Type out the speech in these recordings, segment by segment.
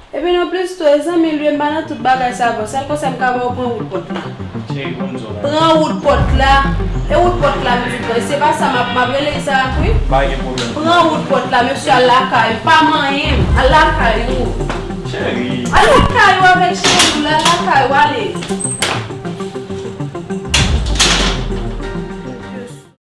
Epi nou plis tou e zanmi l yo m pa nan tout bagay sa vre sèl konsèy m ka ba w pran wout pòt la pran wout pòt la e wout pòt la m di vre se pa sa m ap rele Isaac wi pran wout pòt la mesye al lakay ou pa manyen m al lakay ou al lakay ou avèk cheri w la al lakay ou ale.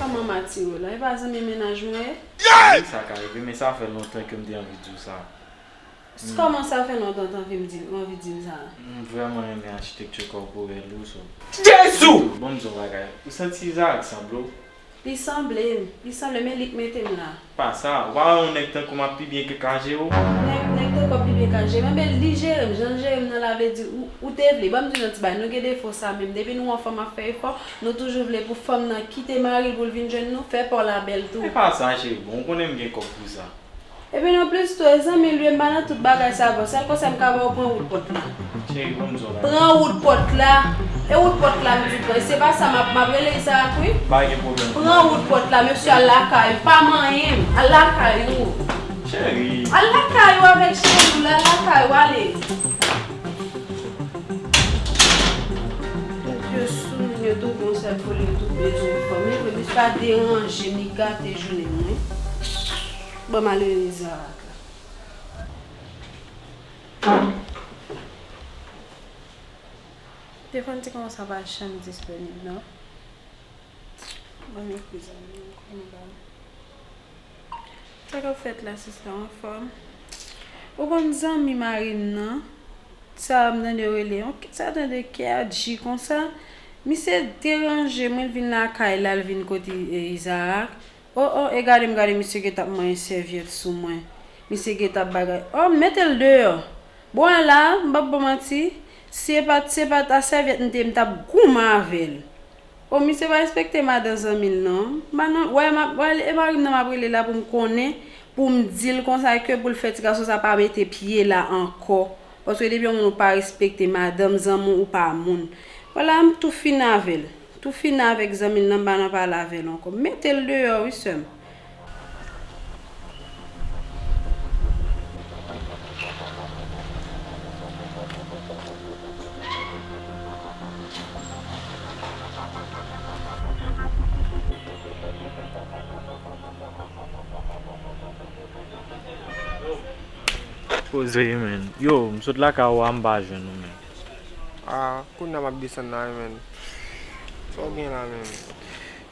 Kòman Matiro la? Epa zanmi mennaj mwen ye? Wi sa ka rive men sa fè lontan kem te anvi diw sa. S kòman sa fè lontan t anvi m di ou anvi dim sa? M vrèman renmen achitekti kòporèl ou so. Jezuu! Bon m di yon bagay, ou santi Isaac sanble w? Li sanble m, li sanble men li k mete m la. Pa sa, ou pa wè yon nèg tankoum ap pi byen ke Kajere ou? Ah nèg nèg tankou ap pi byen Kajere m enben li jerem jan l jerem nan la vle di ou ou te vle banm di nou ti bagay nou gen defo sa menm depi nou wè yon fanm ap fè efò nou toujou vle pou fanm nan kite maril poul vin jwenn nou fè paw la bèl tou. Epa sa cheri bon ou konnen m gen kòb pou sa. Epi nan plis tou e zanmi l u e m pa nan tout bagay sa vre sèl konsèy m ka baw pran wout pòt la. Pran wout pòt la. E wout pòt la m di pran. Se pa sa m ap rele Izarak wi. Pran wout pòt la. Mesye al lakay ou. Pa manyen m. Al lakay ou. Al lakay ou avèk cheri w la. Al lakay ou ale. Nèg yo sou moun yo tou bon sèl poul yo tou bezwen fanm. Yo vle plis pa deranje m. Li gate jounen m wi. Bon m al rele Izarak la. Telefon ti kòman sa pa janm disponib non. Banm ekri zanmi m pou m ba l. Sa kap fèt la sista w anfòm? Ou konn zanmi mari m nan? Sa m tande yo rele yon sa dan de K-adji konsa. Misye deranje mwen l vin lakay la l vin kote Izarak. Oh oh e gade m gade misye gentan ap manyen sèvyèt sou mwen misye gentan ap bagay oh m mete l deyò bon e la m pap bon manti si e pat si e pat a sèvyèt m t ye m tap goumen avè l oh misye pa respekte madan zanmi l non m pa nan wè map wè e mari m nan map rele la pou m konnen pou m di l konsa ke pou l fè ti gason sa pa mete pye la ankò paske depi yon moun ou pa respekte madanm zanmi w ou pa moun wè la m tou fini avè l. Toufina avèk zanmi l nan pa nan pale avè l ankò. Mete l deyò wi sè m. Koze men. Yo, m sot lakay ou a m pa jwenn ou menm. Ah kounya map desann la wi menn Saw gen la menm.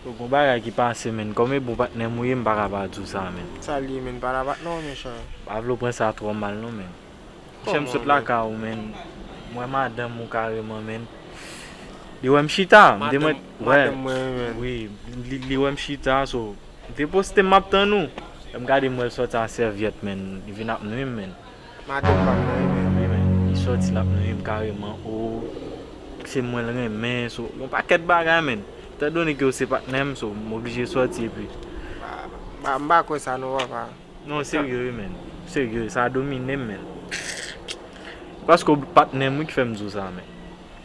Yo gon bagay ki pase menn. Kòm e bon patnèm ou ye m paka pa diw sa menn. Sa li ye menn pa la patnè w mechan. M pa vle w pran sa twò mal non menn. Mechè m sot lakay ou menn m wè madanm ou kareman menn li wè m chita m te mwen Madanm mwen wi menn. Wi li wè m chita so m te poste m map tann ou lè m gade m wè l sòti a sèvyèt menn li vin ap nwi m menn. Madanm pam nan renmenm wi men li sòti lap nuyim kareman oo se mwen l renmen so yon pakèt bagay menn etan done ke yo se patnèm so m oblije sòti epi m pa kwè sa non papa non serye wi menn serye sa dominem menn paske w patnèm wi ki fèm di w sa menn.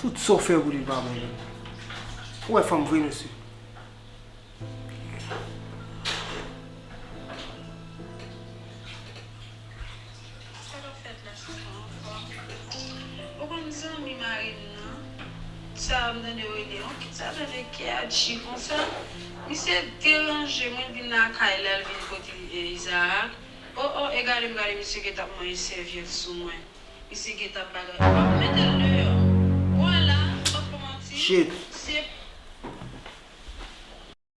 Tout sa w fè pou li pa bon menm. Ou wè fanm vre mesye. Sa kap fèt la sa pa anfòm. Ou konn zanmi marim nan sa m tande yo rele an kit sa tande keadji konsa misye deranje mwen vin lakay la l vin kote izaak oh oh e gade m gade misye gentan ap manyen sèvyèt sou mwen misye gentan ap bagay oh oh mete l deyò bon la m pap ko manti se.